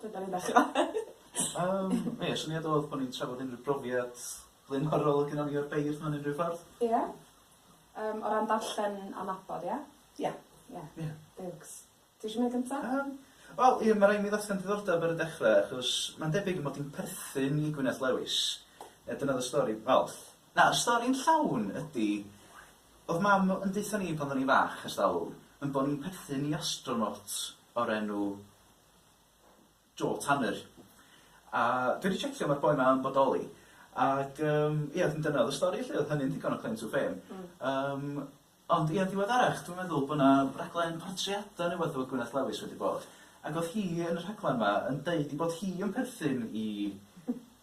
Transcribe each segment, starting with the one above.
Dydan ni bach yn wael. Yym ie syniad odd bo' ni'n trafod unryw brofiad blaenorol o' gynnon ni o'r beirdd mewn unryw ffordd. Ie. Yym o ran darllen a nabod ia? Ia. Ia. Ia. Deilks. Ti isio mynd gynta? Yym, wel, ie, ma' raid i mi ddatgan diddordeb ar y dechre, achos mae'n debyg ei mod i'n perthyn i Gwyneth Lewis. Yy, dyna oedd y stori. Wel, na, y stori'n llawn ydi, oedd Mam yn deutha ni pan oedden ni'n fach, ers talwm, yn bo' ni'n perthyn i astronaut o'r enw... Joel Tanner. A dwi wedi checio ma'r boi 'ma yn bodoli ac yym ie wedyn dyna o'dd y stori 'lly o'dd hynny'n ddigon o claim to fame. Hmm. Yym ond ie yn ddiweddarach dwi'n meddwl bo' 'na raglen portreada ne' wbath efo Gwyneth Lewis wedi bod ac o'dd hi yn y rhaglan 'ma yn deud 'i bod hi yn perthyn i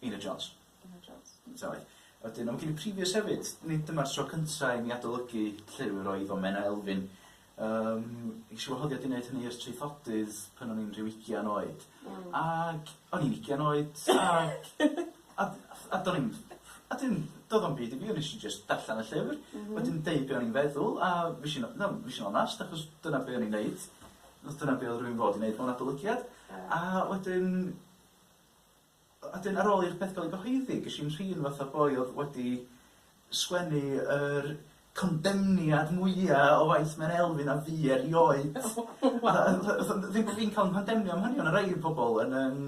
Einar Jones. Einar Jones. Ynteu. Wedyn, a ma' gen i previous hefyd, nid dyma'r tro cynta' i mi adolygu llyfr oedd o Menna Elfyn. Yym, ges i wahoddiad i wneud hynny i'r traethodydd pan o'n i'n rhyw ugian oed. Hmm. Ag o'n i'n ugian oed ag a a do'n i'm a dim do'dd o'm byd i fi o' nesh i jyst darllen y llyfr. M-hm. Wedyn deud be' o'n i'n feddwl a fush i no fush i'n onast achos dyna be' o'n i'n neud. Achos dyna be' odd rywun fod i neud mewn adolygiad. Ie. A wedyn A 'dyn ar ôl i'r peth gael ei gyhoeddi, ges i'n rhin fatha boi oedd wedi sgwennu yr condemniad mwya o waith Menna Elfyn a fi erioed. Ddim bo' fi'n ca'l 'yn condemnio am hynny o' 'na rei pobol yn yym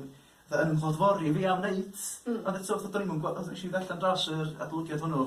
fatha yn 'nghod-fori fi am neud... Hmm. ...ond eto fatha do'n i'm yn gwa- fatha nesh i ddarllan dros yr adolygiad hwnnw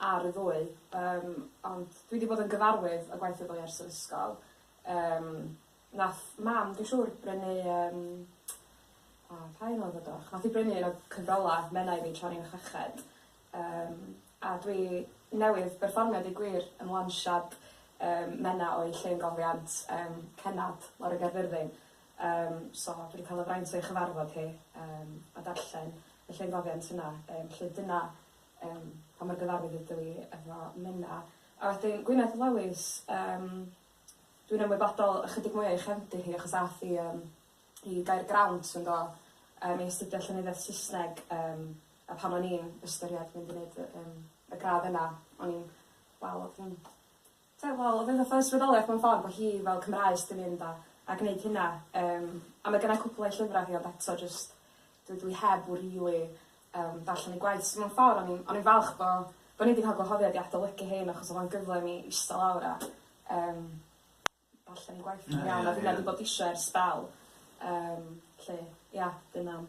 ar y ddwy yym ond dwi 'di bod yn gyfarwydd â gwaith y ddwy ers yr ysgol yym nath mam dwi siŵr brynu yym o pa un o'dd o 'do? Nath 'i brynu un o cyfrola Menna i mi tra o'n i'n chweched yym a dwi newydd berfformio deu gwir yn lansiad yym Menna o'u llên gofiant yym cennad lawr yn Gaerfyrddin yym so dwi 'di ca'l y fraint o'i chyfarfod hi yym a darllen y llên gofiant yna yym 'lly dyna Yym pa mor gyfarwydd ydw i efo Menna? A wedyn Gwyneth Lewis yym dwi'n ymwybodol ychydig mwy o'i chefndir hi achos ath hi yym i Gaergrawnt yndo yym i astudio llenyddiaeth Sysneg yym a pan o'n i'n ystyried mynd i neud y yym y gradd yna o'n i'n wel odd hi'n Ie wel o'dd e'n fath o ysbrydoliaeth mewn ffordd bo' hi fel Cymraes 'di mynd a a gneud hynna yym a ma' gynnai cwpwl o'i llyfra hi ond eto jyst dydw i heb w- rili yym darllen ei gwaith so mewn ffor o'n i'n o'n i'n falch bo' bo' ni 'di ca'l gwahoddiad i adolygu rhein achos o'dd o'n gyfle i mi ista lawr a yym darllen ei gwaith... Na ia ia. ...a finna 'di bod isio ers sbel yym 'lly ia dy mam.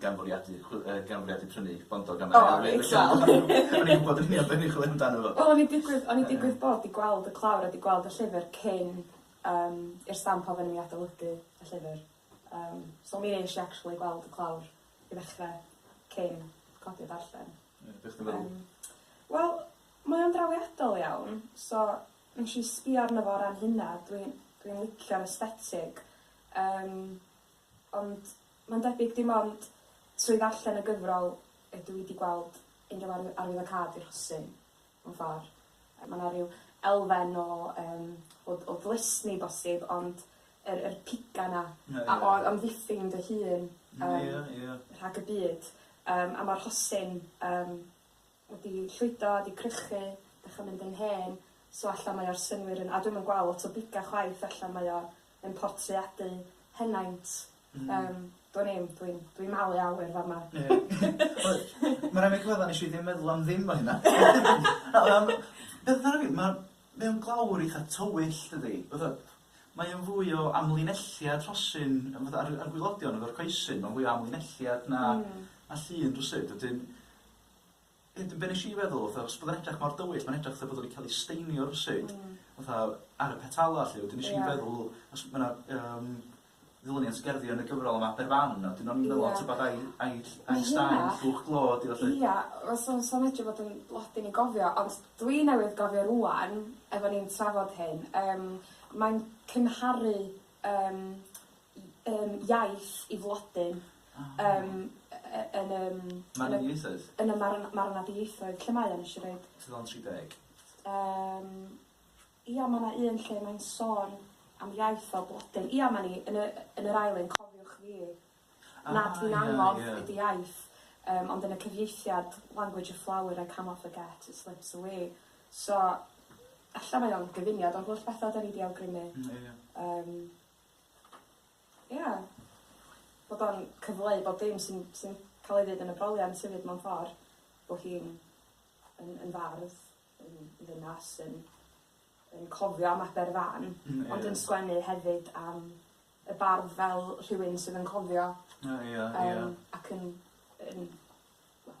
gan fwriadu chw- yy gan fwriadu prynu bondog am arian... O reit wel. O'n i'n gwbod yn union be' o'n i'n chwilio amdano fo. Wel o'n i'n digwydd o'n i'n digwydd bod 'di gweld y clawr a 'di gweld y llyfyr cyn yym i'r stamp ofyn i mi adolygu y llyfyr yym so mi nesh i actually gweld y clawr i ddechre cyn codi a darllen. Ie be' chdi'n feddwl? Yym wel mae o'n drawiadol iawn so nesh i sbïo arno fo o ran hynna dwi dwi'n licio'r aesthetig yym Ond mae'n debyg dim ond trwy ddarllen y gyfrol ydw i 'di gweld unrhyw arwydd arwyddocâd i'r rhosyn, mewn ffordd. Mae 'na ryw elfen o yym o o ddlysni bosib, ond yr yr piga 'na a o amddiffyn dy hun yym rhag y byd. Yym a ma'r rhosyn yym wedi llwydo, wedi crychu, dechra mynd yn hen, so alla mae o'r synnwyr yn, a dwi'm yn gweld lot o biga chwaith, alla mae o yn portreadu henaint, yym, dwn i'm, dwi'n dwi'n malu awyr fama. Mae'n rhaid mi gyfadda nesh i ddim meddwl am ddim o hynna. Mae o'n glawr eitha tywyll dydi? Fatha mae o'n fwy o amlinelliad rhosyn fatha ar y ar y gwilodion efo'r coesyn ma'n fwy o amlinelliad na na llun rywsut wedyn Be' be' nesh i feddwl fatha os bod o'n edrych mor dywyll ma'n edrych fatha bod o 'di ca'l 'i steinio rywsut. Hmm. Fatha ar y petala 'lly wedyn nesh i feddwl os ma' 'na yym ddilyniant gerddi yn y gyfrol yma Aberfan a wedyn o'n i'n meddwl o t'bod ai ai ll- ai straen llwch glo 'di o 'lly. Ia fysa fysa medru bod yn lot i ni gofio ond dwi newydd gofio rŵan efo ni'n trafod hyn yym mae'n cymharu yym yym iaith i flodyn yym yy yy yn yym... Marwniaethoedd? ...yn y marw- marwnadieithoedd, lle mae o nesh i roid? Tudalen tri deg. Yym ia ma' 'na un lle mae'n sôn am iaith fel blodyn. Ia 'ma ni yn y yn yr ail un cofiwch fi nad fi'n annog i dy iaith yym ond yn y cyfieithiad language of flower I cannot forget it slips away so ella mae o'n gyfuniad o'r holl betha 'dan ni 'di awgrymu. Hmm ie ie. Yym. Ia. Bod o'n cyfleu bob dim sy'n sy'n ca'l ei ddeud yn y broliant hefyd mewn ffor bo' hi'n yn yn fardd yn ddynas yn yn cofio am Aberfan. Hmm ie. Ond yn sgwennu hefyd am y bardd fel rhywun sydd yn cofio. O ia ia. Yym ac yn yn wel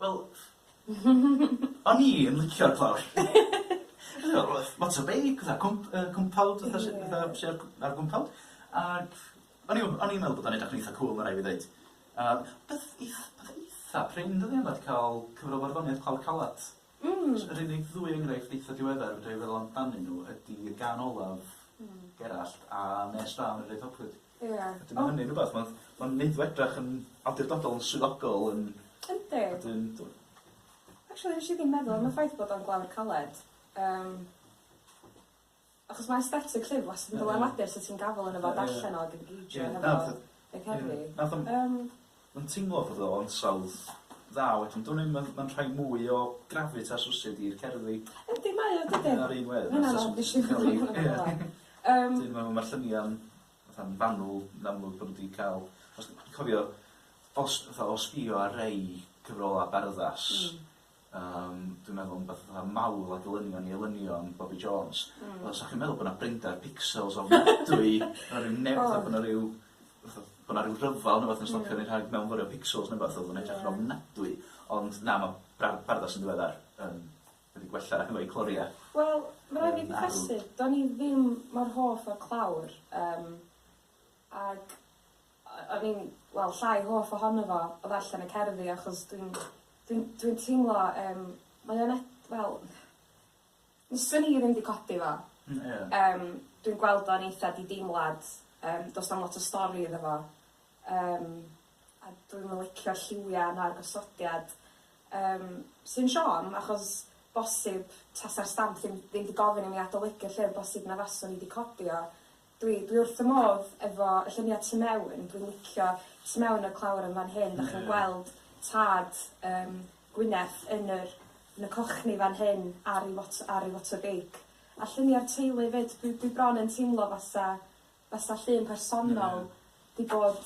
Wel, o'n i yn licio'r clawr. Lot o beic, fatha cwmp- yy cwmpawd fatha sy fatha sy ar gw- ar gwmpawd ag o'n i w- o'n i'n meddwl bod o'n edrych yn eitha cŵl ma' rai' fi ddeud. A peth eith- peth eitha prin dyddie 'ma 'di ca'l cyfrol farddoniaeth Clawr Calat. Hmm. Js yr unig ddwy enghraifft eitha diweddar fedrai feddwl amdanyn nw ydi y gân olaf... Hmm. ...Gerallt a Nes Da Anrhydeddoldrwydd. Ie. A dwi me'wl ma' hynny'n rwbath ma'n ma'n neud o edrach yn awdurdodol yn swyddogol yn... Yndi. ...a dwi'n t'mo'. Actually nesh i ddim meddwl am y ffaith bod o'n glawr caled yym achos ma' aesthetic llyfr wastad yn dylanwadu ar sut ti'n gafel yno fo darllen o ag engeidsio hefo fo. Ie ie na fatha... Neith helpu. Ie na fatha... Yym. Yn teimlo fod o ansawdd dda wedyn dwn i'm ma'n ma'n rhai mwy o gravitas rywsud i'r cerddi. Yndi mae o dydi? Ar un wedd. Mae'n anodd nes i fel ia. Yym. Dwi'n meddwl ma'r llynia'n fatha'n fanwl yn amlwg bo' nw 'di ca'l os dwi'n cofio os fatha o sbïo ar rei cyfrola barddas... Hmm. Yym dwi'n meddwl yn beth fatha mawl a dylunion i elynion Bobi Jones. Hmm. Wel sa chi'n meddwl bo' 'na brinder pixels ofnadwy ma' 'na ryw ne- fatha bo' 'na ryw fatha bo' 'na ryw rhyfel ne' wbath yn stopio ni rhag mewnforio pixels ne' wbath odd o'n edrych yn ofnadwy ond na ma' bra- bardda sy'n ddiweddar yn wedi gwella efo'u clorie. Wel ma' raid fi gyffesu do'n i ddim mor hoff o'r clawr yym ag O- o'n i'n wel llai hoff ohono fo o ddarllen y cerddi achos dwi'n dwi'n dwi'n teimlo yym mae o'n ed- wel fyswn i ddim 'di codi fo. Hmm ie. Yym dwi'n gweld o'n eitha di-deimlad yym do's na'm lot o stori iddo fo yym a dwi'm yn licio'r lliwia' na'r gosodiad yym sy'n siom achos bosib tasa'r stamp ddim ddim 'di gofyn i mi adolygu'r llyfr bosib na faswn i 'di codi o Dwi dwi wrth fy modd efo y llunia tu mewn dwi'n licio tu mewn y clawr yn fan hyn 'dach chi'n gweld tad yym Gwyneth yn yr yn y cochni fan hyn ar ei fot- ar ei fotor beic a llunia'r teulu 'fyd dwi dwi bron yn teimlo fatha fasa llun personol 'di bod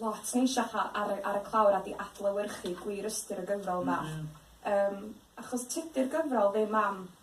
lot neisiach a- ar y ar y clawr a 'di adlewyrchu gwir ystyr y gyfrol 'ma. Yym achos tydi'r gyfrol ddim am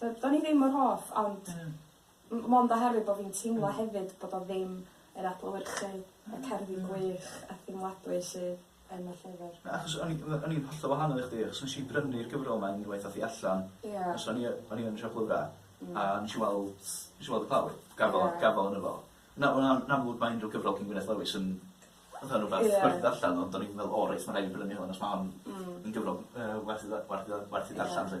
D- do'n i ddim mor hoff ond... Hmm. ...m- mond oherwydd bo' fi'n teimlo hefyd bod o ddim yn adlewyrchu y cerddi gwych a theimladwy sydd yn y llyfr. Na achos o'n i we- o'n i'n hollol wahanol i chdi achos nesh i brynu'r gyfrol 'ma unwaith ath 'i allan. Ie. Achos o'n i y- o'n i yn y siop lyfra. Hmm. A nesh i weld nesh i weld y clawr gafal... Ie. ...gafal yno fo. Na wel na yn amlwg ma' unryw gyfrol cyn Gwyneth Lewis yn fatha rwbath... Ie. ...werth ddarllan ond o'n i'n meddwl o reit ma' raid fi brynu hwn os ma' hon... Hmm. ...yn gyfrol yy werth 'i dda- werth 'i dda- werth 'i ddarllan 'lly.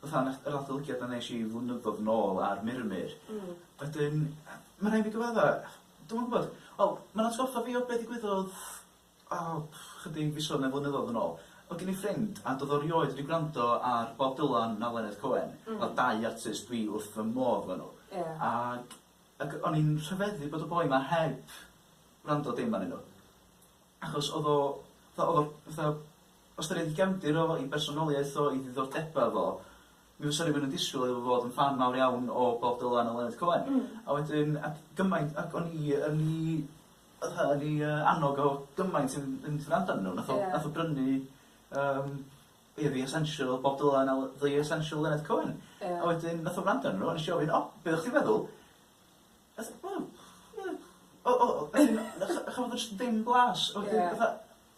fatha nath yr adolygiad 'na nesh i flynyddodd yn ôl ar Murmur. Hmm. Wedyn yy ma' rai' fi gyfadda dwi'm yn gwbod wel ma'n atgoffa fi o be' ddigwyddodd o chydig fisodd ne' flynyddodd yn ôl. Odd gen i ffrind a do'dd o rioed 'di gwrando ar Bob Dylan na Leonard Cohen. Hmm. Fel dau artist dwi wrth fy modd efo n'w. Ie. Ag ag o'n i'n rhyfeddu bod y boi 'ma heb wrando dim arnyn n'w. Achos odd o fatha odd o fatha Ystyried y gefndir o, ei bersonoliaeth o, ei ddiddordebau o, mi fysa rhywun yn disgwyl iddo fo fod yn ffan mawr iawn o Bob Dylan a Leonard Cohen. A wedyn, ac gymaint, ac o'n i yn 'i, fatha, yn 'i yy annog o gymaint i fyn- fynd i wrando arnyn nhw. Nath o... Ie. ...nath o brynu yym ia The Essential Bob Dylan a Le- The Essential Leonard Cohen. Ie. A wedyn nath o wrando arnyn nhw a nesh i ofyn, 'O, be' oddach chdi'n feddwl?' Nath o, 'Wel, ia, o- o- o-' 'na chdi, chafodd o jyst ddim blas. Ie. A wedyn fatha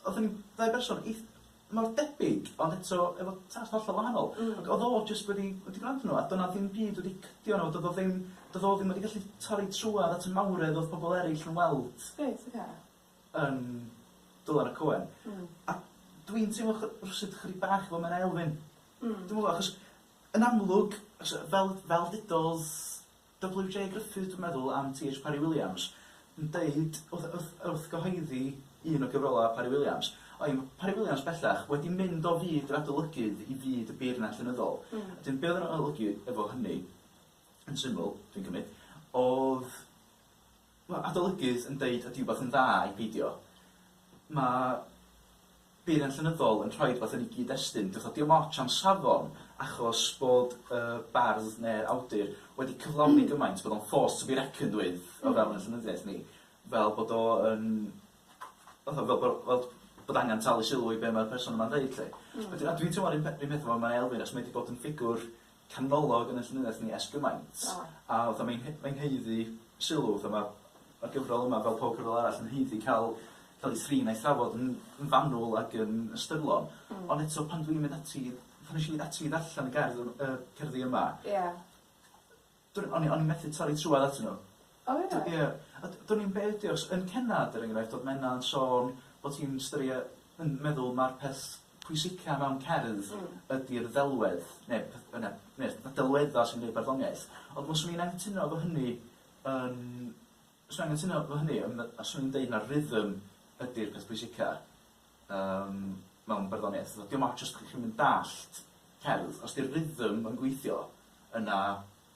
Odd yn ddau berson eith- mor debyg ond eto efo tad hollol wahanol. Hmm. Ac odd o jyst wedi wedi gwrando arno a do' 'na ddim byd wedi cydio arno fo do'dd o ddim do'dd o ddim wedi gallu torri trwadd at y mawredd odd pobol eryll yn weld... Reit oce. ...yn Dylan a Co. Hmm. A dwi'n teimlo chy- rywsut chydig bach efo Menna Elfyn. Hmm. Dwi'm yn gwbo achos yn amlwg os yy fel fel dudodd WJ Griffith dwi'n meddwl am TH Parry Williams yn deud wrth wrth wrth gyhoeddi un o gyfrolau Parry Williams o ia ma' Parry Williams bellach wedi mynd o fyd yr adolygydd i fyd y beirniad llenyddol. Hmm. A 'dyn be' odd yr adolygu efo hynny yn syml dwi'n cymyd odd Mae adolygydd yn deud ydy wbath yn dda ai peidio. Mae beiriant llenyddol yn rhoi rhywbeth yn ei gyd-destun. Dio'ch o dim otsh am safon achos bod y bardd neu'r awdur wedi cyflawni gymaint bod o'n force to be reckoned with o fewn ein llenyddiaeth ni, fel bod o yn fatha fel bo' fel bod angen talu sylw i be' mae'r person yma'n ddeud 'lly. Wedyn a dwi'n teimlo'r un pe- 'run peth efo Menna Elfyn achos mae 'di bod yn ffigwr canolog yn y llenyddiaeth ni ers gymaint, a fatha mae'n he- mae'n haeddu sylw, fatha ma' ma'r gyfrol yma, fel pob cyfrol arall, yn haeddu ca'l ca'l 'i thrin a'i thrafod yn yn fanwl ac yn ystyrlon. Hmm. Ond eto pan dwi'n mynd ati i, pan esh i ati i ddarllen y gerdd ym- yy cerddi yma... Ie. ...dwn i o'n i o'n i methu torri trwadd atyn nw. O ia? Dw- ia. A d- dwn i'm be' ydi o 'chos yn cenad er enghraifft o'dd Menna yn sôn bo' ti'n styrie- yn meddwl ma'r peth pwysica mewn cerdd... Hmm. ...ydi'r ddelwedd ne' peth bynnag ne' y delwedda' sy'n neud barddoniaeth ond fyswn i'n anghytuno efo hynny yn fyswn i'n anghytuno efo hynny yn fy- a swn i'n deud ma'r rhythm ydi'r peth pwysica yym mewn barddoniaeth fatha dio'm ots os 'dych chi'm yn dallt cerdd os 'di'r rhythm yn gweithio yna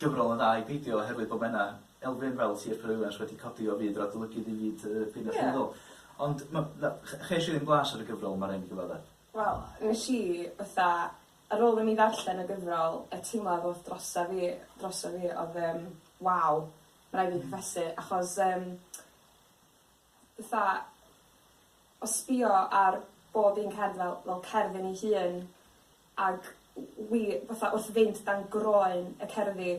Gyfrol yn dda i beidio oherwydd bod mena elfen fel Sir Ferewylansh wedi codi o fyd yr adolygydd i fyd y Deyrnas Unol. Ond ma' na- ch- chesh i ddim blas ar y gyfrol 'ma rai' mi gyfadde. Wel nesh i fatha ar ôl i mi ddarllen y gyfrol y teimlad odd drosa fi droso fi odd yym waw ma' rai' fi confesu achos yym fatha o sbïo ar bob un cerdd fel fel cerdd yn ei hun ag w- wi fatha wrth fynd dan groen y cerddi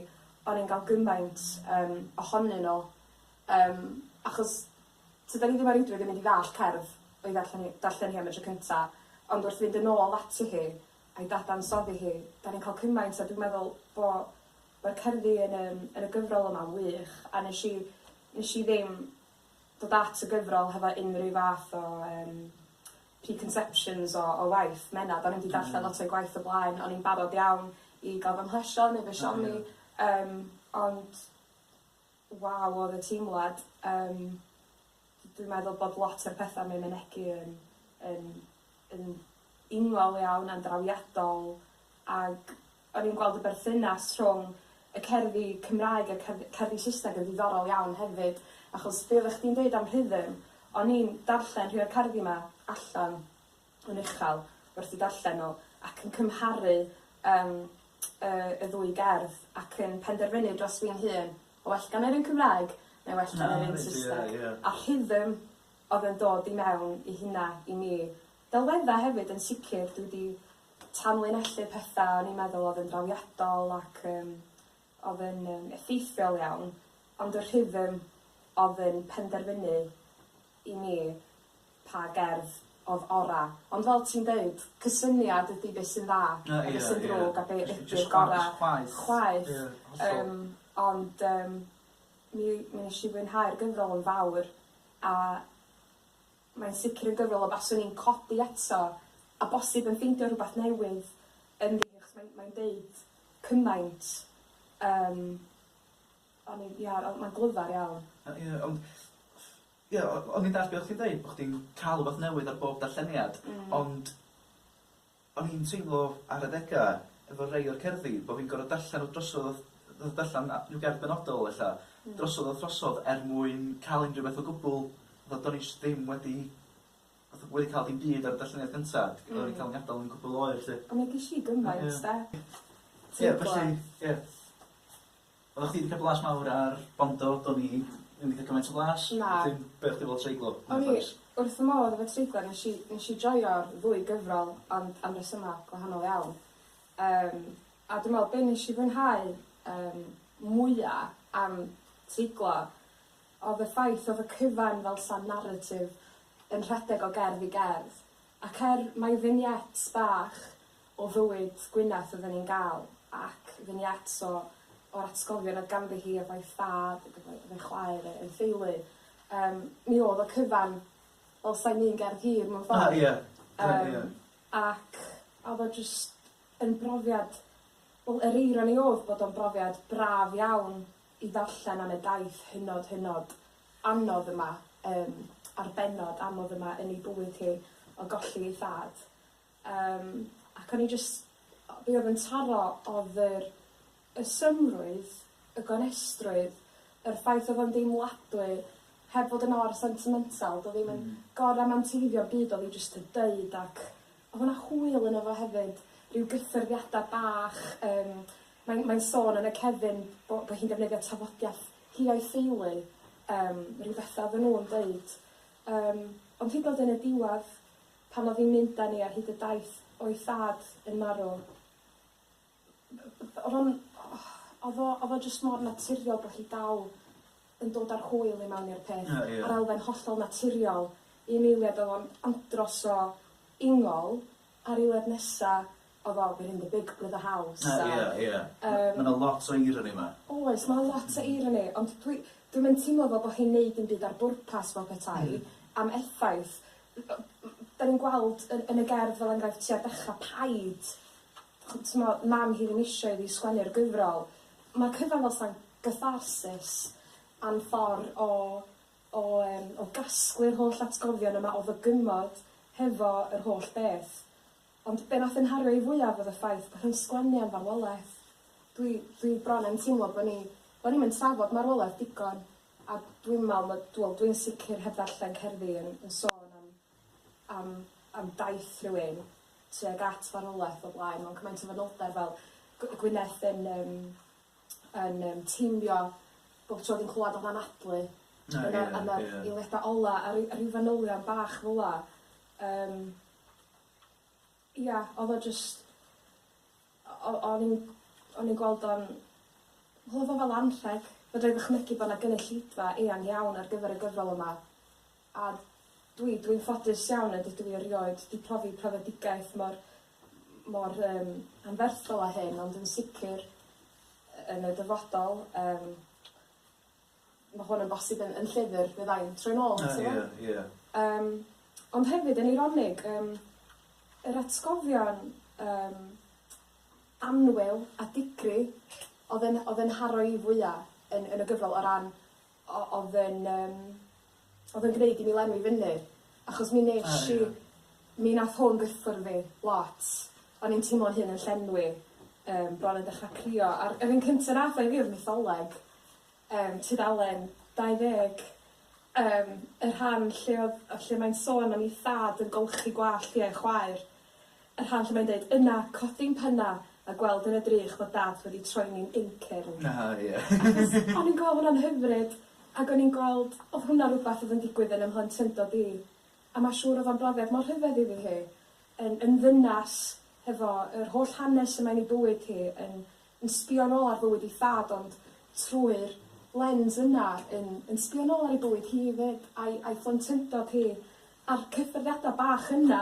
o'n i'n ga'l gymaint yym ohonyn n'w yym achos tydan ni ddim o reidrwydd yn mynd i ddallt cerdd o'i ddarllen hi darllen hi am y tro cynta ond wrth fynd yn ôl ati hi a'i dadansoddi hi 'dan ni'n ca'l cymaint a dwi'n meddwl bo' ma'r cerddi yn yym yn y gyfrol yma'n wych a nesh i nesh i ddim dod at y gyfrol hefo unrhyw fath o yym preconceptions o o waith Menna 'dan ni'm 'di darllen lot o'i gwaith o blaen o'n i'n barod iawn i ga'l fy mhlesio neu fy siomi. O ie. Yym ond waw o'dd y teimlad yym d- dwi'n meddwl bod lot o'r petha mae mynegi yn yn yn ingfawr iawn a'n drawiadol ag O'n i'n gweld y berthynas rhwng y cerddi Cymraeg a'r cerddi cerddi Saesneg yn ddiddorol iawn hefyd achos be' oddach chdi'n deud am rhythm o'n i'n darllen rhei o'r cerddi 'ma allan yn uchel wrth 'u darllen n'w ac yn cymharu yym y y ddwy gerdd ac yn penderfynu dros fi'n hun ma' well gan yr un Cymraeg neu well gan yr un Saesneg. A rhythm o'dd yn dod i mewn i hynna i mi Delwedda hefyd yn sicr dwi di tanlinellu petha o'n i'n meddwl oedd yn drawiadol ac yym oedd yn yym effeithiol iawn ond y rhythm oedd yn penderfynu i mi pa gerdd oedd ora ond fel ti'n deud cysyniad ydi be sy'n dda a be sy'n ddrwg a be ydi'r gora chwaeth yym ond yym mi mi neshi fwynhau'r gyfrol yn fawr a Mae'n sicr yn gyfrol y baswn i'n codi eto a bosib yn ffeindio rhywbeth newydd ynddi achos mae'n mae'n deud cymaint yym o'n i'n ia o- mae'n glyfar iawn. O ie ond ia o- o'n i'n dallt be' o' chdi'n deud bo' chdi'n ca'l rwbath newydd ar bob darlleniad ond O'n i'n teimlo ar adega efo rei o'r cerddi bo fi'n gor'o darllen nhw drosodd a th- darllen a- rhyw gerdd benodol ella drosodd a throsodd er mwyn ca'l unrhyw beth o gwbwl fatha do'n i js ddim wedi fatha wedi ca'l dim byd ar y darlleniad cynta d- o'n i'n ca'l fy ngadal yn cwpwl o oer 'lly. A mi gesh i gymaint 'de. Ie felly ie. Oeddach chdi 'di ca'l blas mawr ar Bondo, do'n i ddim 'di ca'l cymaint o blas. Na. Wedyn be' o' chdi fel treiglo yn y ffens? O'n i wrth fy modd efo treiglo nesh i nesh i joio'r ddwy gyfrol ond am resyma gwahanol iawn. Yym a dwi me'wl be' nesh i fwynhau yym mwya am treiglo odd y ffaith odd y cyfan fel 'sa naratif yn rhedeg o gerdd i gerdd ac er mai vignettes bach o fywyd Gwyneth oedden ni'n gael ac vignettes o o'r atgofion oedd ganddi hi efo'i thad ac efo'i efo'i chwaer a'i theulu. Yym mi o'dd y cyfan fel sai'n un gerdd hir mewn ffordd. A ia. A ia. Yym ac a o'dd o jyst yn brofiad wel yr eironi o'dd bod o'n brofiad braf iawn i ddarllen am y daith hynod hynod anodd yma yym a'r bennod anodd yma yn ei bywyd hi o golli ei thad. Yym, ac o'n i jyst, o- be' odd yn taro odd yr y symrwydd, y gonestrwydd, yr ffaith odd o'n deimladwy, heb fod yn or sentimental, do'dd ddim yn gor-ramanteiddio 'm byd odd 'i jyst yn deud ac odd yna hwyl yno fo hefyd, ryw gyffyrddiada' bach yym mae'n mae'n sôn yn y cefyn bo' bo' hi'n defnyddio tafodiaith hi a'i theulu, yym ryw betha' oddan nw'n deud. Yym, ond hyd yn o'd yn y diwadd Pan oedd hi'n mynd â ni ar hyd y daith o'i thad yn marw, oedd o'n... oedd o... oedd o jyst mor naturiol bod hi dal yn dod â'r hwyl i mewn i'r peth, a'r elfen hollol naturiol i un eiliad oedd o'n andros o ingol, a'r eiliad nesa O wow behind the big brother house a... Ie ie. Yym. Ma' 'na lot o irony 'ma. Oes ma' 'na lot o irony ond dwi dwi'm yn timlo fel bo' hi'n neud dim byd ar bwrpas fel petai. Hmm. Am effaith. N- o- m- 'dan ni'n gweld yn yn y gerdd fel enghraifft tua'r dechra paid ch'm' t'mo' mam hi ddim isio iddi sgwennu'r gyfrol. Ma'r cyfan fel 'sa'n gatharsis am ffor o o yym o gasglu'r holl atgofion yma o fy gymod hefo yr holl beth. Ond be nath fy nghario i fwyaf oedd y ffaith bod hi'n sgwennu am farwolaeth. Dwi dwi bron yn teimlo bo ni bo ni'm yn trafod marwolaeth digon a dwi'n me'wl ma' dw- wel dwi'n sicr heb ddarllen cerddi yn yn sôn am am am daith rhywun tuag at farwolaeth o blaen mewn cymaint o fanylder fel gw- Gwyneth yn yym yn yym teimio bob tro o'dd 'i'n clwad am anadlu a dyna a dyna'r eiliada ola a ry- a ryw fanylion bach fela yym. Ia odd o jyst o- o- o'n i'n o'n i'n gweld o'n wel odd o fel anrheg. Fedrai ddychmygu bo' 'na gynulleidfa eang iawn ar gyfer y gyfrol yma a dwi dwi'n ffodus iawn nad ydw i erioed 'di profi profedigaeth mor m- mor yym anferthol â hyn ond yn sicir yy yn y dyfodol yym Ma' hwn yn bosib yn yn llyfr fyddai'n troi nôl ato fo. O ie ie. Yym ond hefyd yn eironig yym yr atgofion yym annwyl a digri odd e'n odd e'n haro i fwya yn yn y gyfrol o ran o- odd e'n yym Odd yn gneud i mi lenwi fyny achos mi nesh i... O ie. ...mi nath hwn gyffwrdd fi lot. O'n i'n teimlo'n hun yn llenwi yym bron yn dechra crio a'r yr un cynta nath o i fi odd mytholeg yym tudalen 20 yym y rhan lle odd yy lle mae'n sôn am 'i thad yn golchi gwallt hi a'i chwaer. Y rhan lle mae'n deud, Yna, codi'n penna, a gweld yn y drych fod Dad wedi troi'n incyrn. Na, ie. Achos o'n i'n gweld hwnna'n hyfryd, ac o'n i'n gweld, oedd hwnna rhywbeth oedd yn digwydd yn 'y mhlentyndod i, a ma' siŵr oedd o'n brofiad mor rhyfedd iddi hi, yn yn ddynas, hefo yr holl hanes yma yn ei bywyd hi, yn yn sbio'n ôl ar fywyd ei thad, ond trwy'r lens yna, yn yn sbio'n ôl ar ei bywyd hi 'fyd, a'i a'i phlentyndod hi, a'r cyffyrddiadau bach yna,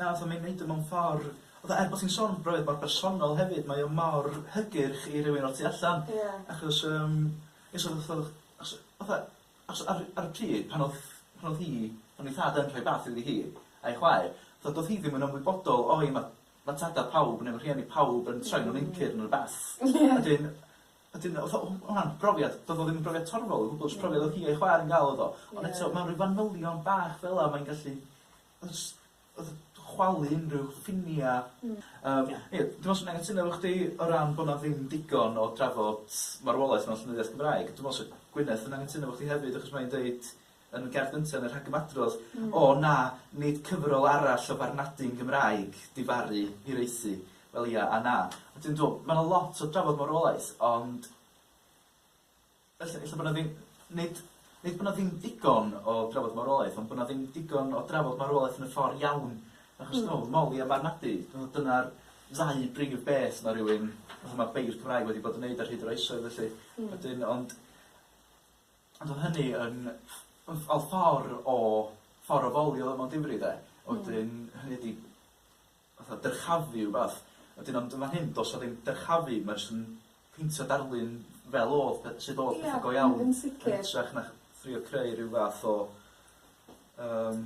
Na, fatha mae'n neud o mewn ffor, fatha er bo' ti'n sôn am brofiad bach personol hefyd mae o mor hygyrch i rywun o'r tu allan. Ie. Achos yym ie so fatha o'ch achos fatha achos ar ar y pryd pan odd pan odd hi pan odd 'i thad yn rhoi bath iddi hi a'i chwaer fatha do'dd hi ddim yn ymwybodol o i ma' ma' tada pawb ne' ma' rhieni pawb yn troi'n wreincir ne' rwbath. Ie. A 'dyn a 'dyn fatha o ma' wnna'n brofiad do'dd o ddim yn brofiad torfol o gwbwl jyst profiad odd hi a'i chwaer yn ga'l odd o. Ie. Ond eto mewn ryw fanylion bach fela mae'n gallu Os odd chwalu unrhyw ffinia'. Hmm. Yym. Ia. Ia dwi wastad yn anghytuno efo chdi o ran bo' 'na ddim digon o drafod marwolaeth mewn llenyddiaeth Gymraeg. Dwi me'wl sa Gwyneth yn anghytuno efo chdi hefyd achos mae'n deud yn y gerdd gynta yn y rhagymadrodd... Hmm. ...o na, nid cyfrol arall o farnadu'n Gymraeg di farru hiraethu. Wel ia a na. Ond dwi'n dw'o' ma' 'na lot o drafod marwolaeth ond Felly, ella bod 'na ddim... nid... nid bod 'na ddim digon o drafod marwolaeth, ond bod 'na ddim digon o drafod marwolaeth yn y ffordd iawn, achos... Mm. ...dwi me'wl Molly a Marnadu, dwi me'wl dyna'r ddau brif beth ma' rywun fatha ma' beirdd Cymraeg wedi bod yn neud ar hyd yr oesoedd felly. Hmm. Wedyn ond ond o' hynny yn on' on' ffor o ffor o fowlio mewn difri 'de? Hmm. Wedyn hynny ydi fatha dyrchafu rwbath, a wedyn ond yn fan hyn do's 'na ddim dyrchafu ma' jyst yn peintio darlun fel o'dd pe- sud o'dd petha go iawn... Ia yn sicir. ...yn hytrach na thrio creu ryw fath o yym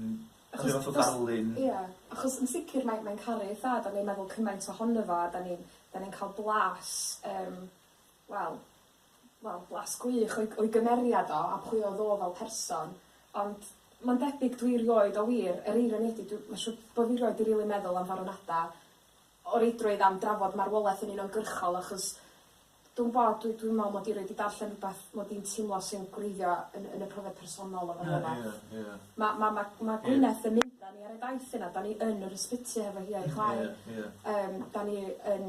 rhyw fath o ddarlun... Ia achos yn sicir mae mae'n caru ei thad a mae'n meddwl cymaint ohono fo a 'dan ni'n 'dan ni'n ca'l blas yym wel wel blas gwych o'i o'i gymeriad o a pwy oedd o fel person ond ma'n debyg dwi rioed a wir yr eironi ydi dw- ma' siŵr bo' fi rioed 'di rili meddwl am farwnada o reidrwydd am drafod marwolaeth yn uniongyrchol achos dw'm bo' dwi dwi'n me'wl mod i rioed 'di darllen rwbeth mod i'n teimlo sy'n gwreiddio yn yn y profiad personol o farwolaeth. Na ia ia. Ma' ma' ma' ma' Gwyneth... Ia. ...yn mynd â ni ar y daith yna 'dan ni yn yr ysbyty hefo hi a'i chwaer. Ia ia. Yym 'dan ni yn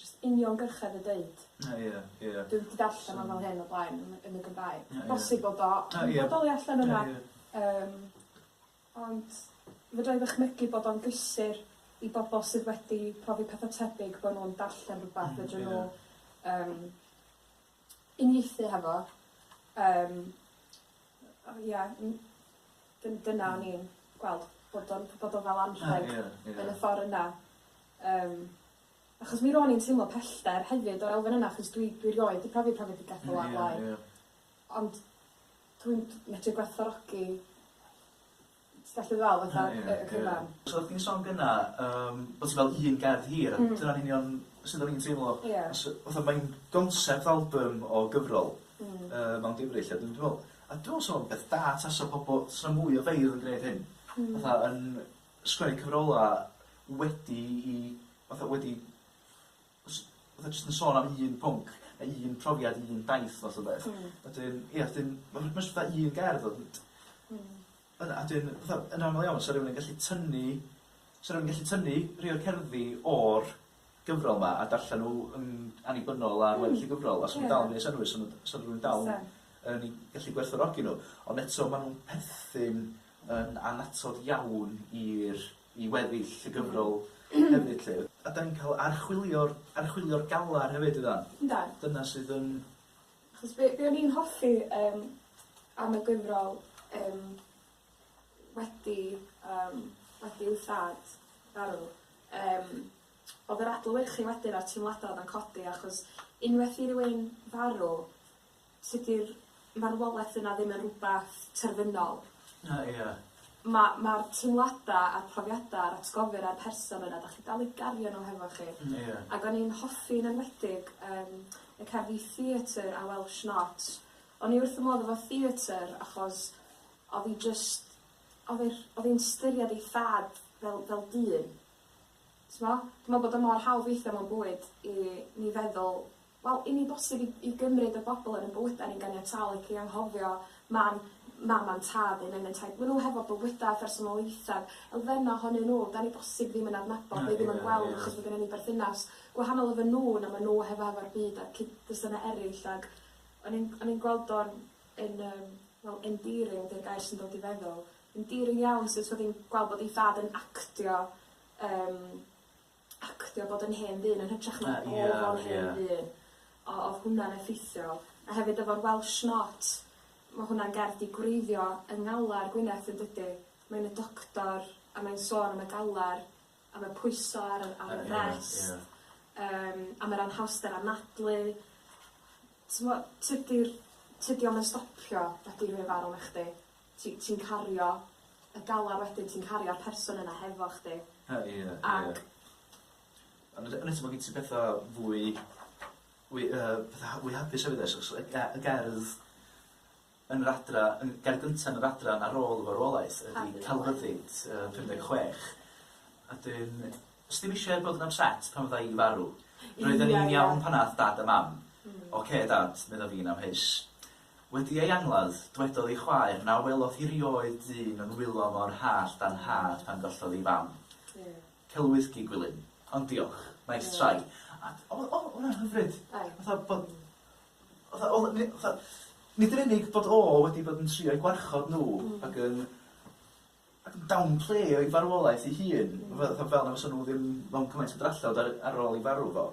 jyst uniongyrchedd o deud. Na, ie, ie. Dwi wedi darllen o fel hyn o blaen yn y yn y Gymraeg. Na, ie. Bosib bod o yn... Na, ie. ...bodoli allan yna. Na, ie. Yym, ond fedra i ddychmygu bod o'n gysur i bobol sydd wedi profi petha tebyg bo' nw'n darllen rwbath... Hmm, ie. ...fedrwn nw yym uniaethu hefo yym o ia n- dyn- dyna o'n i'n gweld bod o'n bod o fel anrheg... A ia ia. ...yn y ffor yna yym achos mi ro'n i'n teimlo pellter hefyd o'r elfen yna achos dwi dwi rioed 'di profi profedigaeth fel 'a o'r blaen. Ia ia. Ond dwi'n medru gwerthfawrogi Ti'n gallu ddal fatha y y cyfan. So oddach chdi'n sôn gynna yym bo' ti fel un gerdd hir a dyna'n union sud o'n i'n teimlo. Ie. Os yy fatha mae'n gonsept albym o gyfrol. Hmm. Yy mewn geimri 'lly a dwi'm dwi me'wl a dwi me'wl sa fo'n beth da tasa pobol sa 'na mwy o feirdd yn gneud hyn. Hmm. Fatha yn sgwennu cyfrola wedi i fatha wedi Os fatha jyst yn sôn am un pwnc ne' un profiad un daith fath o beth. Hmm. Wedyn ia 'dyn ma' ma' jys fatha un gerdd odd yn t-... Hmm. ...yna a 'dyn fatha yn amal iawn sa rywun yn gallu tynnu sa rywun yn gallu tynnu rhei o'r cerddi o'r gyfrol 'ma a darllen n'w yn annibynnol ar weddill y gyfrol a sa nw'n dal yn gneud synnwyr sa nw'n sa rywun dal yn yn 'u gallu gwerthfawrogi n'w ond eto ma' nw'n perthyn yn annatod iawn i'r i weddill y gyfrol hefyd 'lly. A 'dan ni'n cael archwilio'r archwilio'r galar hefyd ydan? Yndan. Dyna sydd yn... Achos be' be' o'n i'n hoffi yym am y gyfrol yym wedi yym wedi i'w thad farw yym o'dd yr adlewyrchu wedyn a'r teimlada' o'dd yn codi achos unwaith i rywun farw Sut di'r marwolaeth yna ddim yn rwbath terfynol? Na, ia. Ma' ma'r teimlada a'r profiada a'r atgofion a'r person yna 'dach chi dal i gario n'w hefo chi. Hmm ia. Ag o'n i'n hoffi yn enwedig yym y cerdd Ye Theatre a Welsh Not. O'n i wrth fy modd efo theatre achos odd 'i jyst odd e'r odd 'i'n ystyried ei thad fel fel dyn. T'mo'? Dwi me'wl bod o mor hawdd weithia' mewn bywyd i ni feddwl Wel, i ni'n bosib i i gymryd y bobl yn ein bywydau ni'n ganiataol ac i anghofio man, mam a'n tad neu nain a'n taid. Maen nhw hefo bywydau a phersonoliaethau elfennau ohonyn nhw 'dan ni bosib ddim yn adnabod neu ddim yn gweld achos bod gennyn ni berthynas gwahanol efo nhw na maen nhw hefo hefo'r byd a'r cyd-destunau eraill ac o'n i'n o'n i'n gweld o'n yn yym wel endearing 'di'r gair sy'n dod i feddwl, endearing iawn sut oedd hi'n gweld bod ei thad yn actio yym actio bod yn hen ddyn yn hytrach na bod o'n hen ddyn. O- odd hwnna'n effeithiol. A hefyd efo'r Welsh not ma' hwnna'n gerdd 'di gwreiddio yng ngalar Gwyneth yndydi? Mae'n y doctor a mae'n sôn am y galar am y pwyso ar yr ar y frest yym am yr anhawster anadlu t'mo' tydi'r tydi o'm yn stopio nacdi rhoi ofn arna chdi. ti ti'n cario y galar wedyn ti'n cario'r person yna hefo chdi. He- ie ie. Ac Ond y- yn eto ma' gin ti petha fwy fwy yy petha ha- fwy hapus hefyd oes achos y ge- y gerdd yn yr adra yn ger gynta yn yr adran ar ôl y farwolaeth ydi Harri Lime. Celfyddyd yy pum deg chwech a 'dyn os ti'm isie bod yn ypset pan fydda i farw roedden ni'n iawn pan ath dad a mam. Hmm. Ocê dad medda fi'n amheus. Wedi ei angladd, dwedodd ei chwaer na welodd hi 'rioed dyn yn wylo mor hallt â'n nhad pan gollodd ei fam. Celwydd gi Gwilym. Ond diolch. Nice try. A o- o- oedd hwnna'n hyfryd. Oedd. Fatha bod fatha oedd ni fatha nid yn unig bod o wedi bod yn trio'u gwarchod nhw ac yn ac yn downplay ei farwolaeth ei hun, fatha fel na fysa nhw ddim mewn cymaint o drallod ar ar ôl ei farw fo,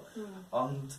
ond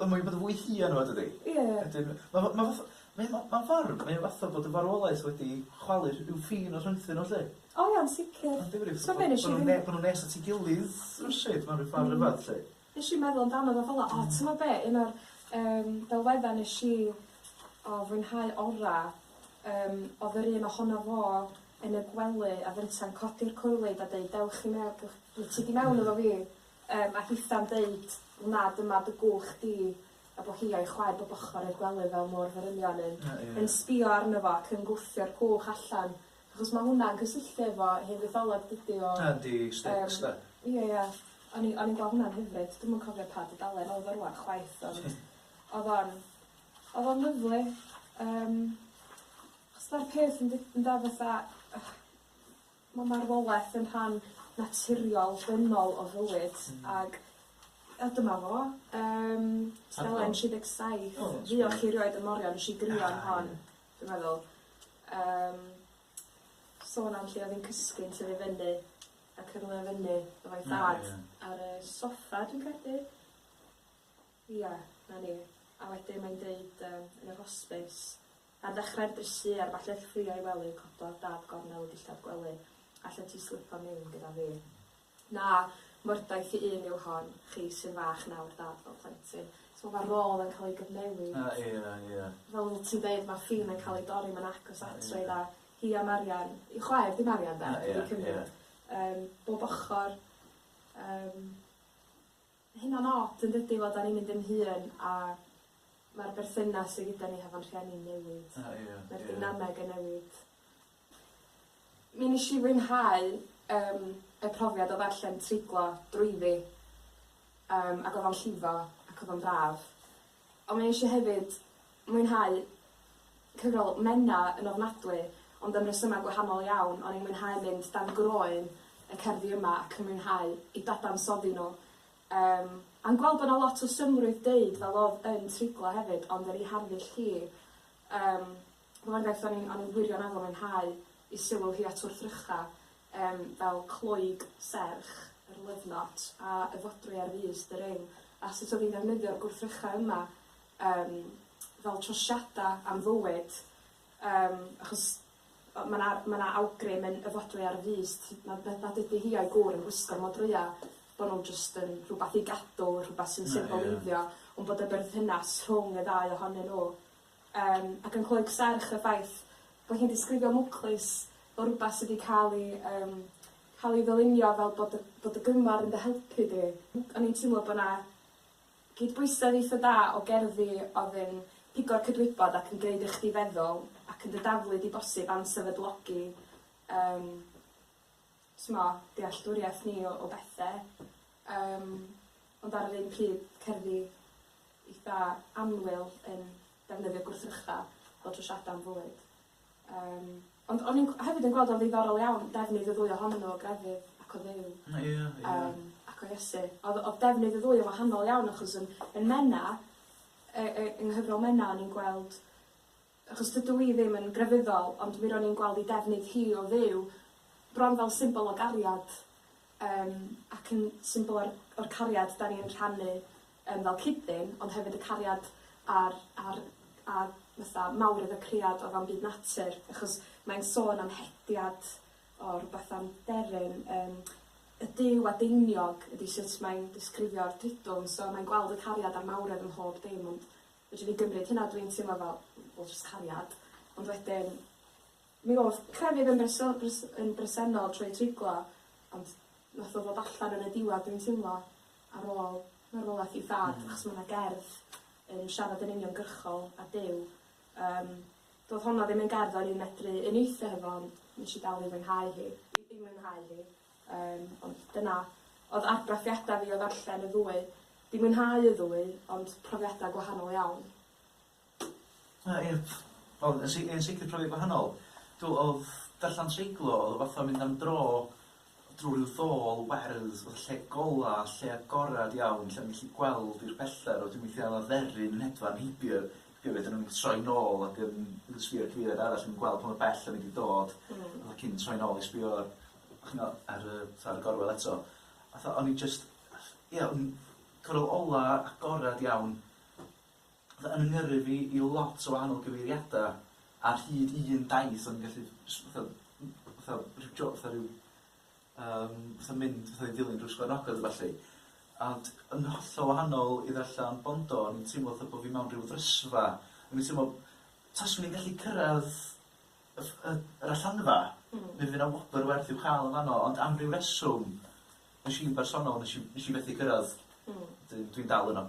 Wel mae 'di bod yn fwy hir rŵan dydi? Ie. Wedyn ma' fe ma' fatha mae ma' ma'n ffarm mae o fatha bod y farwolaeth wedi chwalu rh- ryw ffin o rhyngthyn nhw 'lly. O iawn sicir. Ma'n ddifyr fatha bo' bo' nw'n ne- bo' nw'n nes at 'i gilydd rywsut mewn ryw ffor rhyfadd 'lly. Nesh i meddwl amdano fo fel 'a o t'mo' be' un o'r yym delwedda nesh i o fwynhau ora' yym odd yr un ohono fo yn y gwely a fynta'n codi'r coelyd a deud dewch i mew- dewch wyt ti 'di mewn efo fi? Yym a hitha'n deud, wna dyma dy gwch di, a bo hi a'i chwaer bob ochor i'r gwely fel môr ferynion yn yn sbio arno fo ac yn gwthio'r cwch allan, achos ma' hwnna'n cysylltu efo hen fytholeg dydi o? Yndi, Styx 'de. Yym ia ia. O'n i o'n i'n gwel' hwnna'n hyfryd, dwi'm yn cofio pa dudalen o'dd o rŵan chwaith ond o'dd o'n o'dd o'n lyfli yym achos ma'r peth yn deu- ynde fatha Mae marwolaeth yn rhan naturiol, dynol o fywyd ac yy dyma fo. Yym tudalen 37. O reit. Fuoch chi rioed yn Morion? Nesh i grio am hon. A ie. Dwi'n meddwl. Yym sôn am lle o'dd 'i'n cysgu yn tyfu fyny a cyrlio fyny efo 'i thad. O ie. Ar y soffa dwi'n credu. Ia, 'na ni. A wedyn mae'n deud yym yn yr hosbis Ar ddechrau'r drysu ar falle ffriai wely cododd dad gornel y dillad gwely, allet ti slipo miwn gyda fi? Na, mordaith i un yw hon, chi sy'n fach nawr dad fel plentyn. So ma' rôl yn ca'l ei gyfnewid. A ia, ia. Fel oddot ti'n deud ma' ffin yn ca'l ei dorri ma'n agos at rei dda. Hi a Marian, i'w chwaer di Marian de? Ia, ia. Dwi 'di cymryd. Yym bob ochor yym. Hynna'n od yn dydi fel 'da ni'n mynd yn hŷn a ma'r berthynas sy gyda ni hefo'n rhieni'n newid. A ia, ia. Ma'r dynameg yn newid. Mi nesh i fwynhau yym y profiad o ddarllen treiglo drwyddi yym ag odd o'n llifo ac odd o'n braf. Ond mae eisiau hefyd mwynhau cyfrol Menna yn ofnadwy, ond am resymau gwahanol iawn, o'n i'n mwynhau mynd dan groen y cerddi yma ac yn mwynhau eu dadansoddi nhw. Yym, a'n gweld bod 'na lot o synnrwydd deud fel o'dd yn triglo hefyd, ond yr i harddull hi, yym, Fel argaeth o'n i'n o'n i'n wirioneddol mwynhau i sylw hi at wrthrycha yym fel cloig serch yr love knot a y fodrwy ar frys the ring a sut o'dd hi'n ddefnyddio'r gwrthrycha yma yym fel trosiada am fywyd yym achos o- ma' 'na ma' 'na awgrym yn y fodrwy ar frys t- nad na- nad ydi hi a'i gŵr yn gwisgo'r modrwya bo' nw jyst yn rhwbath i gadw rhwbath sy'n... Na ia. ...symboleiddio on' bod y berthynas rhwng y ddau ohonyn nw Yym, ac yn cloi serch y ffaith bo' hi'n disgrifio mwclis fel rwbath sy 'di ca'l 'i yym ca'l 'i ddylunio fel bod y bod y Gyngor yn dy helpu di. O'n i'n timlo bo' 'na gydbwysedd eitha da o gerddi o'dd yn pigo'r cydwybod ac yn gneud i chdi feddwl, ac yn dy daflu di bosib am sefydlogi yym t'mo' dealltwriaeth ni o o bethe. Yym, ond ar yr un pryd, cerddi eitha annwyl yn defnyddio gwrthrycha fel trwsiadau am fwyd. Yym, ond o'n i'n gw- hefyd yn gweld o'n ddiddorol iawn defnydd y ddwy ohonyn nhw o grefydd ac o Dduw. Ie, ie. Yym, ac o Iesu. Oedd oedd defnydd y ddwy yn wahanol iawn achos yn yn Menna yy yy yng nghyfrol Menna o'n i'n gweld Achos dydw i ddim yn grefyddol, ond mi ro'n i'n gweld ei defnydd hi o Dduw bron fel symbol o gariad, yym, ac yn symbol o'r o'r cariad 'dan ni'n rhannu yym fel cyd-dyn, ond hefyd y cariad a'r a'r a fatha mawr iddo cread o fewn byd natur, achos mae'n sôn am hediad o rwbath am deryn, yym y Duw adeiniog ydi sut mae'n disgrifio'r dridwm, so mae'n gweld y cariad a'r mawredd ym mhob dim, ond Fedrwn i gymryd hynna, dwi'n teimlo fel, wel jyst cariad. Ond wedyn, mi o'dd crefydd yn breso- bres- yn bresennol trwy treiglo, ond nath o ddod allan yn y diwadd dwi'n teimlo, ar ôl marwolaeth ei thad. Hmm. Achos ma' 'na gerdd yn siarad yn uniongyrchol â Duw. Yym, do'dd honno ddim yn gerdd o'n i'n medru uniaethu hefo ond nesh i dal i fwynhau hi. I i mwynhau hi. Yym, ond dyna oedd argraffiadau fi o ddarllen y ddwy. Di mwynhau y ddwy, ond profiadau gwahanol iawn. Na, ie. Wel, yn si- yn sicr profiad gwahanol. Dw- oedd darllen treiglo, oedd o fatha mynd am dro drwy ryw ddôl werdd, fatha lle gola, lle agored iawn, lle o'n i'n gallu gweld i'r pellter, wedyn weithiau oedd 'na dderyn yn hedfan heibio heibio fi, wedyn o'n i'n troi nôl ac yn yn sbio ar y cyfeiriad arall, o'n i'n gweld pa mor bell o'n i 'di dod, fatha cyn troi nôl i sbio ch'mo' ar y t'od y gorwel eto a tha- o'n i jyst ia o'n i'n cyfnod ola agored iawn fatha yn 'y ngyrru fi i lot o wahanol gyfeiriada ar hyd un daith o'n i'n gallu js fatha m- fatha ryw jo- fatha ryw yym fatha mynd fatha i Ddilyn Drws Coed Ogwen a ballu ond yn hollol wahanol i ddarllen Bondo o'n i'n teimlo fatha bo' fi mewn ryw frysfa o'n i'n teimlo taswn i'n gallu cyrradd y y yr allanfa. Hmm. Mi fydd 'na wobr werth i'w chael yn fanno ond am ryw reswm nes i'n bersonol nes i nes i fethu cyrradd. Hmm. Dwi dwi'n dal yno.